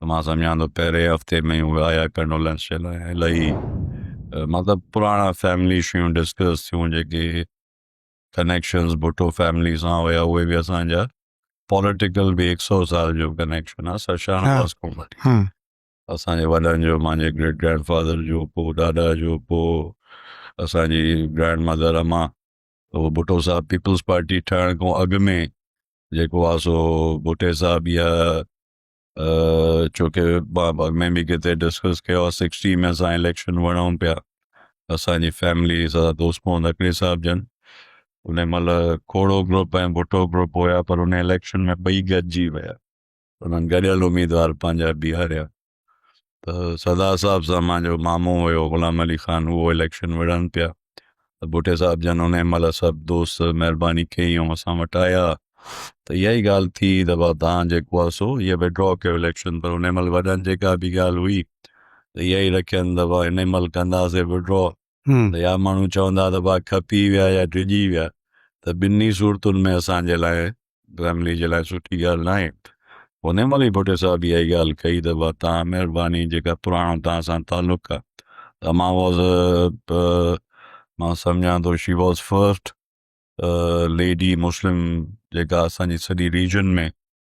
Speaker 2: ته مان سمجهان ٿو پهرين هفتي ۾ اهي آيا ڪنڊولينس جي لاء الائي مطلب پراڻا فيملي شيون ڊسڪس ٿيون جيڪي ڪنيڪشنز ڀٽو فيملي سان هيا اهي به اسانجا پوليٽيڪل به هڪ سو سال جو ڪنيڪشن آ سر شاهه نواز کان وٺي اسانجي وڏن جو مانجي گريٽ گرينڊ فادر جو پو ڏاڏا جو پو اسانجي گرينڊ مدر اما هو ڀٽو صاحب پيپلز پارٽي ٺهڻ کان اڳ ۾ جيڪو آ سو ڀٽي صاحب يا ڇو کي مان اڳ ۾ به ڪٿي ڊسڪس ڪيو آهي سڪسٽي ۾ اسان اليڪشن وڙهون پيا اسانجي فيملي سدا دوست محمد اڪري صاحب جن ان مهل کوڙو گروپ ۽ ڀٽو گروپ هيا پر ان اليڪشن ۾ ٻئي گڏجي ويا انهن گڏيل اميدوار پنهنجا بيهاريا ته سردار صاحب سان مانجو مامو هيو غلام علي خان اهو اليڪشن وڙهڻ پيا ته ڀٽي صاحب جن ان مهل سڀ دوست مهرباني ڪئي ۽ اسان وٽ آيا ته اها ئي ڳالهه ٿي ته ڀاء توهان جيڪو آهي سو اهي وڊرا ڪيو اليڪشن پر ان مهل وڏن جيڪا به ڳالهه هئي ته اها ئي رکين ته ڀاء ان مهل ڪنداسين وڊرا ته يا ماڻهو چوندا ته ڀاء کپي ويا يا ڊڄي ويا ته ٻنهي صورتن ۾ اسان جي لاء فيملي جي لاء سٺي ڳالهه ناهي انهي مهل ئي ڀٽي صاحب اها ئي ڳالهه ڪئي ته ڀاء توهان مهرباني جيڪا پراڻو توهان سان تعلق آ ته مان واز مان سمجهان ٿو she was first lady Muslim جيڪا اسان جي سڄي ريجن ۾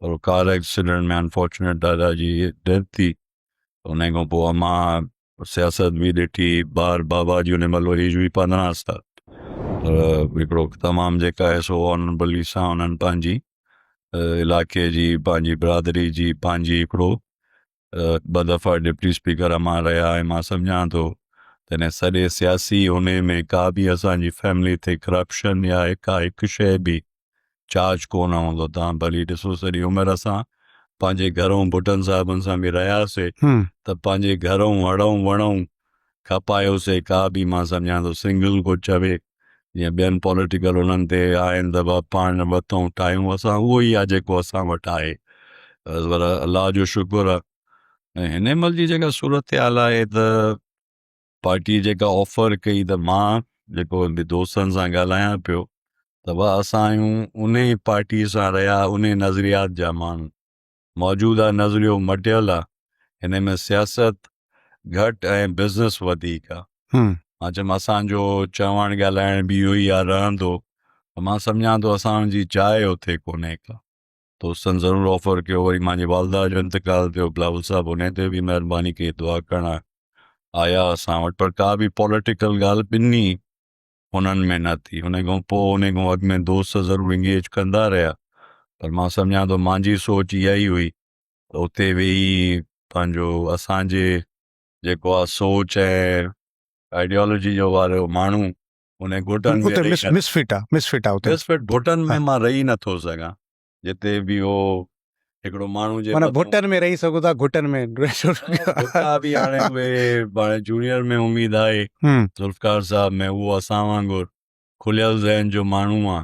Speaker 2: پر ڪار ايڪسيڊنٽ ۾ انفارچونيٽ دادا جي ڊيٿ ٿي ان کان پوء مان سياست بي ڏٺي بار بابا جي ان مهل ايج هئي پندرهن سال هڪڙو تمام جيڪا آهي سو آنربلي سان انهن پنهنجي علاقي جي پنهنجي برادري جي پنهنجي هڪڙو ٻه دفعا ڊپٽي اسپيڪر امان رهيا ۽ مان سمجهان ٿو تنهن سڄي سياسي ان ۾ ڪا به اسان جي فيملي تي ڪرپشن يا ڪا هڪ شيء به چارج ڪو نه هوندو تان ڀلي ڏسو سڄي عمر اسان پنهنجي گهرون ڀٽن صاحبن سان به رهياسي ته پنهنجي گهرون هڙون وڻون کپايوسي ڪا به مان سمجهان ٿو سنگل ڪو چوي جيئن ٻين پوليٽيڪل انهن تي آهن ته بابا پاڻ وتون ٺاهيون اسان اهو ئي آهي جيڪو اسان وٽ آهي پر الله جو شڪر آهي ۽ هن مهل جي جيڪا صورتحال آهي ته پارٽي جيڪا آفر ڪئي ته مان جيڪو به دوستن سان ڳالهايان پيو ته بابا اسان آهيون ان پارٽي سان رهيا ان نظريات جا ماڻهو موجوده نظريو مٽيل آ هن ۾ سياست گهٽ ۽ بزنس وڌيڪ آ مان چيم اسان جو چوڻ ڳالهائڻ به اهو ئي آ رهندو ته مان سمجهان ٿو اسان جي جاء اتي ڪونهي ڪا دوستن ضرور آفر ڪيو وري مانجي والده جو انتقال ٿيو بلاول صاحب ان تي به مهرباني ڪئي دعا ڪرڻ آيا اسان وٽ پر ڪا به پوليٽيڪل ڳالهه ٻنهي انهن ۾ نه ٿي. انهيء کان پوء انهيء کان اڳ ۾ دوست ضرور انگيج ڪندا رهيا پر مان سمجهان ٿو مانجهي سوچ اها ئي هئي ته اتي ويهي پنهنجو اسان جي جيڪو آ سوچ ۽ آئيڊيالوجي جو واريو ماڻهو انهي گهٽن ۾ رهي نه Misfit آ Misfit آ اتي Misfit گهٽن ۾ مان رهي نه ٿو سگهان جتي به هو هڪڙو ماڻهو جي معنيٰ گهٽن ۾ رهي سگهو ٿا
Speaker 1: گهٽن ۾ گهٽا به
Speaker 2: هاڻي اهي هاڻي جونيئر ۾ اميد آهي ذوالفقار صاحب ۾ اهو اسان وانگر کليل ذهن جو ماڻهو آ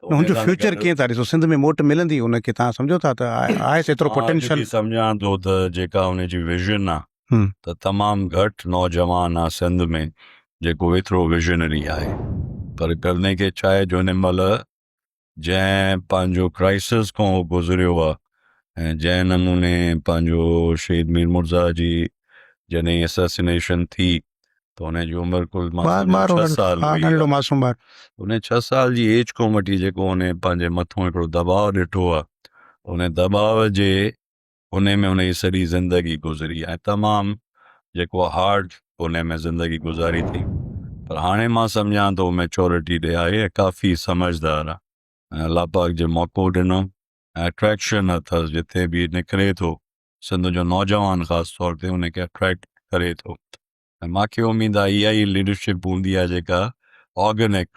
Speaker 2: هن جو فيوچر
Speaker 1: ڪيئن ٿا ڏسو سنڌ ۾ موٽ ملندي ان کي تان سمجهو ٿا ته آهي ايترو پوٽينشل سمجهان ٿو ته
Speaker 2: جيڪا ان جي ويزن آ ته تمام گهٽ نوجوان آ سنڌ ۾ جيڪو ايترو ويزنري آهي پر ڪرني کي ڇا آهي جو هن مهل جنهن پنهنجو ڪرائسز کان هو گذريو آ ۽ جنهن نموني پنهنجو شهيد مير مرزا جي جڏهن اسيسينيشن ٿي ته هن جي عمر ڪل ڇهه سال هن ڇهه سال جي ايج کان وٺي جيڪو هن پنهنجي مٿان هڪڙو دٻاء ڏٺو آ ان دٻاء جي انهي ۾ هن جي سڄي زندگي گذري ۽ تمام جيڪو هارڊ انهي ۾ زندگي گذاري ٿي پر هاڻي مان سمجهان ٿو ميچورٽي ڏي آهي ۽ ڪافي سمجهدار آهي ۽ الله پاڪ جي موقعو ڏنو ۽ اٽريڪشن اٿس جتي به نڪري ٿو سنڌ جو نوجوان خاص طور تي انهي کي اٽريڪٽ ڪري ٿو ۽ مان کي اميد آهي اها ئي ليڊرشپ هوندي آهي جيڪا آرگنڪ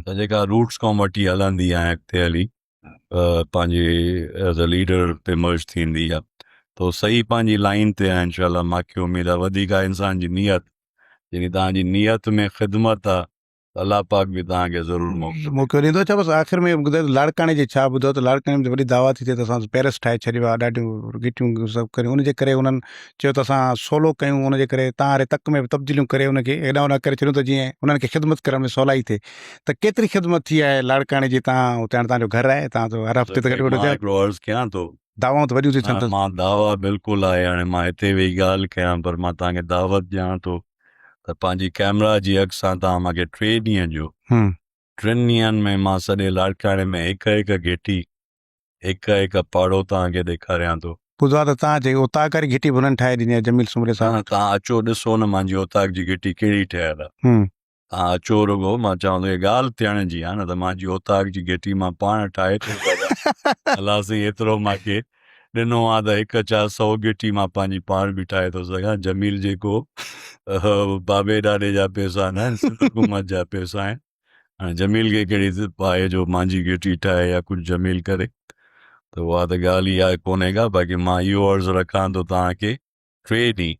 Speaker 2: ته جيڪا روٽس کان وٺي هلندي آهي اڳتي هلي پنهنجي ايز اي ليڊر تي مرج ٿيندي آ ته هو صحيح پنهنجي لائين تي آهن انشاء الله ماکي اميد آ وڌيڪ آ انسان جي نيت جيڪي تهان جي نيت ۾ خدمت آ الله پاڪ به تهان کي ضرور موقعو موقعو ڏيندو اڇا بس
Speaker 1: آخر ۾ ٻڌايو ته لاڙڪاڻي جي ڇا ٻڌو ته لاڙڪاڻي ۾ وڏي دعويٰ ٿي ٿئي ته اسان پيرس ٺاهي ڇڏيو آ ڏاڍيون گيٽيون سڀ ڪريون ان جي ڪري انهن چيو ته اسان سولو ڪيون ان جي ڪري تان هاري تڪ ۾ به تبديليون ڪري ان کي هيڏانهون ڏانهن ڪري ڇڏيون ته جيئن انهن کي خدمت ڪرڻ ۾ سولائي ٿئي ته ڪيتري خدمت ٿي آهي لاڙڪاڻي جي تان اتي هاڻي تان جو گهر آهي تان جو هر هفتي ته گهٽ مان گهٽ هڪڙو عرض ڪيان ٿو
Speaker 2: دعوائون ته وڏيون ٿيون
Speaker 1: ٿين مان دعوا بلڪل
Speaker 2: آهي هاڻي مان هتي ويهي ڳالهه ڪيان پر مان تان کي دعوت ڏيان ٿو ته پنهنجي ڪيمرا جي اڳ سان تان مان کي ٽي ڏينهن جو ٽن ڏينهن ۾ مان سڄي لاڙڪاڻي ۾ هڪ هڪ گهٽي هڪ هڪ پاڙو تان کي ڏيکاريان ٿو ٻڌو آهي ته تان جي
Speaker 1: اوطاق واري گهٽي به انهن ٺاهي ڏني آهي جميل سومري صاحب تان اچو ڏسو نه
Speaker 2: مانجي اوطاق جي گهٽي ڪهڙي ٺهيل آهي تان اچو رڳو مان چوان ٿو هي ڳالهه ٿيڻ جي آ نه ته مان جي اوطاق جي گهٽي مان پاڻ ٺاهي ٿو سگهان الله سائين ايترو مان کي ڏنو آ ته هڪ ڇا سو گهٽي مان پنهنجي پاڻ به ٺاهي ٿو سگهان جميل جيڪو بابي ڏاڏي جا پيسا نه آهن سنڌ حڪومت جا پيسا آهن هاڻي جميل کي ڪهڙي پاهي جو مانجي گهٽي ٺاهي يا ڪجهه جميل ڪري ته اها ته ڳالهه ئي آهي ڪونهي ڪا باقي مان اهو عرض رکان ٿو توهان کي ٽي ڏينهن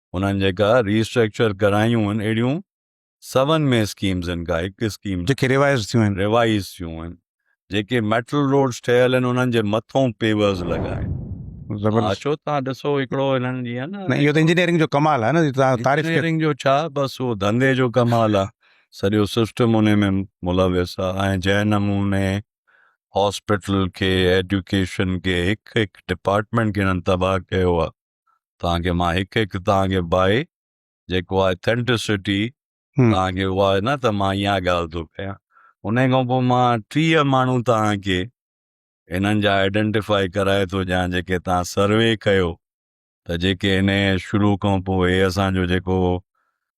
Speaker 2: انهن جيڪا ري اسٽرڪچر ڪرايون آهن اهڙيون سون ۾ اسڪيمز آهن ڪا هڪ اسڪيم جيڪي ريوائز ٿيون آهن
Speaker 1: ريوائز ٿيون آهن
Speaker 2: جيڪي ميٽل روڊز ٺهيل آهن انهن جي مٿون پيورز لڳا آهن زبردست اچو
Speaker 1: تان ڏسو
Speaker 2: هڪڙو انهن جي آهن نه اهو ته انجنيئرنگ جو
Speaker 1: ڪمال
Speaker 2: آهي
Speaker 1: نه جي تان تعريف ڪيو انجنيئرنگ جو ڇا بس اهو
Speaker 2: ڌنڌي جو ڪمال آهي سڄو سسٽم ان ۾ ملوث آهي ۽ جنهن نموني هاسپيٽل کي ايڊيوڪيشن کي هڪ هڪ ڊپارٽمينٽ کي انهن تباهه ڪيو آهي توهان کي مان هڪ هڪ توهان کي بائي جيڪو آهي ٿينٽسٽي توهان کي اها نه ته مان اها ڳالهه ٿو ڪيان انهي کان پوء مان ٽيهه ماڻهو توهان کي انهن جا آئيڊنٽيفائي ڪرائي ٿو ڏيان جيڪي توهان سروي ڪيو ته جيڪي انهي شروع کان پوء اسان جو جيڪو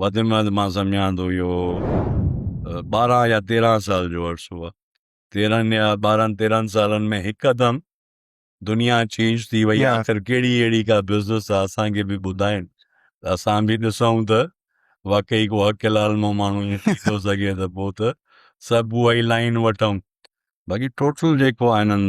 Speaker 2: وڌ ۾ وڌ مان سمجهان ٿو اهو ٻارهن يا تيرهن سال جو عرصو آهي تيرهن يا ٻارهن تيرهن سالن ۾ هڪدم دنيا چينج ٿي وئي آخر ڪهڙي اهڙي ڪا بزنس آهي اسان کي به ٻڌائين ته اسان به ڏسون ته واقعي ڪو حق حلال مون ماڻهو ائين ٿي ٿو سگهي ته پوء ته سڀ اها ئي لائن وٺون باقي ٽوٽل جيڪو آهي هنن